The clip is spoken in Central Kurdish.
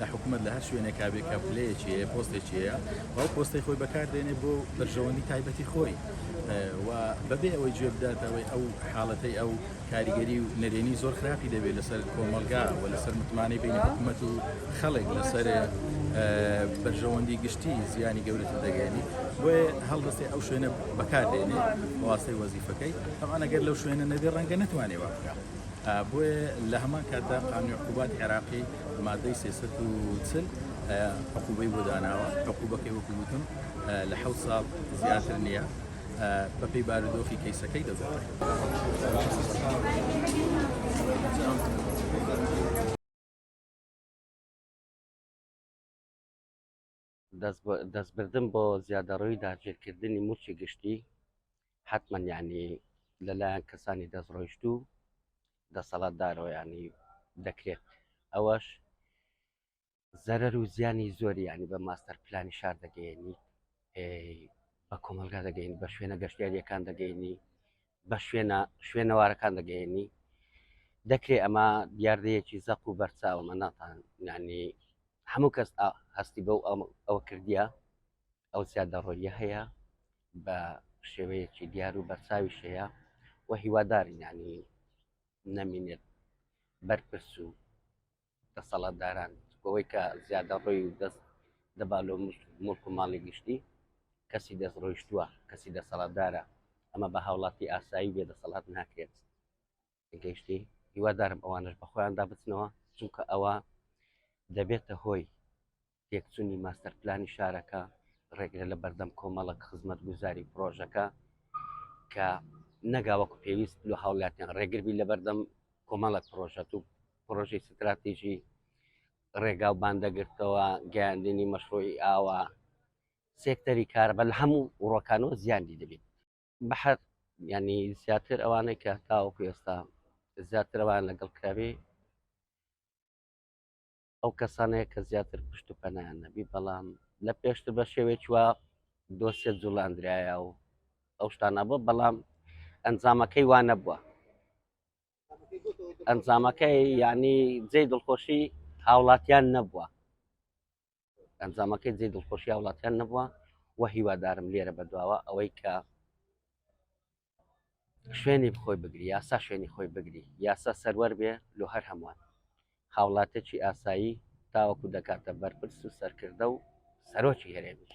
لە حکومەت لە هەر شوێنێکا بێ کە پلەیەکی هەیە پۆستێکی هەیە و ئەو پۆستەی خۆی بەکاردێنێ بۆ بەرژەوەندی تایبەتی خۆی و بەبێ ئەوەی گوێ بداتەوەی ئەو حاڵەتەی ئەو کاریگەری و نەرێنی زۆر خراپی دەبێت لەسەر کۆمەلگا و لەسەر متمانەی بینی حکومەت و خەڵێک لەسەر بەرژەوەندی گشتی زیانی گەورەتر دەگەێنی بۆێ هەڵدەستی ئەو شوێنە بەکاردێنێ واسەی وەزیفەکەی ئەمانەگەر لەو شوێنە نەبێ ڕەنگە نتوانێ واکە. بۆیە لە هەمان کاتدا قانوی عقوبات عێراقی مادەی سێسەت و چل عقوبەی بۆ داناوە عقوبەکەی وەکووتم لە حەوت ساڵ زیاتر نییە بەپی بارودۆخی کەیسەکەی دەگۆڕێت. دەستبردن بۆ زیادەڕۆیی داگیرکردنی مووچی گشتی حتمما یعنی لەلایەن کەسانی دەستڕۆیشتوو دەسەڵاتدارەوە ینی دەکرێت ئەوەش زەرەر و زیانی زۆری ینی بە ماستەر پلانی شار دەگەێنی بە کۆمەلگا دەگەین بە شوێنە گەشتیاریەکان دەگەینی بە شوێنە شوێنەوارەکان دەگەێنی دەکرێت ئەمە دیاردەیەکی زەق و بەرچاوە مەناتان ینی هەموو کەس هەستی بەو ئەوە کردیە ئەو زیادەڕۆیە هەیە بە شێوەیەکی دیار و بەرچاوی شەیە و هیوادارینانی نەمینێت بەرپرس و دەسەڵاتداران بەوەی کە زیادەڕۆی و دەست دەبا لۆ موڵک و ماڵی گشتی، کەسی دەستڕۆیشتووە، کەسی دەسەڵاتدارە، ئەمە بە هاوڵاتی ئاسایی و بێدەسەڵات ناکرێت. گەیشتی؟ هیوادارم ئەوانەش بە خۆیاندا بچنەوە، چونکە ئەوە دەبێتە هۆی تێکچونی ماستەرپلانی شارەکە ڕێگرە لە بەردەم کۆمەڵک خزمەت گوزاری پرۆژەکە کە نەگاوەکو پێویست لە هاوڵاتیان ڕێگربی لە بەردەم کۆمەڵک پرۆژەت و پرۆژی ستراتیژی ڕێگا و باندەگرتەوە گەیاندنی مەشروعی ئاوە سێکتەری کار بە لە هەموو وڕۆکانەوە زیادی دەبێت بەحر ینی زیاتر ئەوانەی کە تاوەکو ئێستا زیاترەوان لەگەڵ کراوی ئەو کەسانەیە کە زیاتر پشت و پەنایان نەبی بەڵام لە پێشتر بە شێوێکی وا دۆسێت جوڵاندرایە و ئەو شتانە بۆ بەڵام ئەنجامەکەی وا نەبووە ئەنجامەکەی ینی جێ دڵخۆشی هاوڵاتیان نەبووە ئەنجامەکەی جێ دڵخۆشی هاوڵاتیان نەبووە و هیوادارم لێرە بەدواوە ئەوەی کە شوێنی بخۆی بگری یاسا شوێنی خۆی بگری یاسا سەروەر بێ لۆ هەر هەمووان هاوڵاتێکی ئاسایی تاوەکو دەکاتە بەرپرس و سەرکردە و سەرۆکی هەرێمیش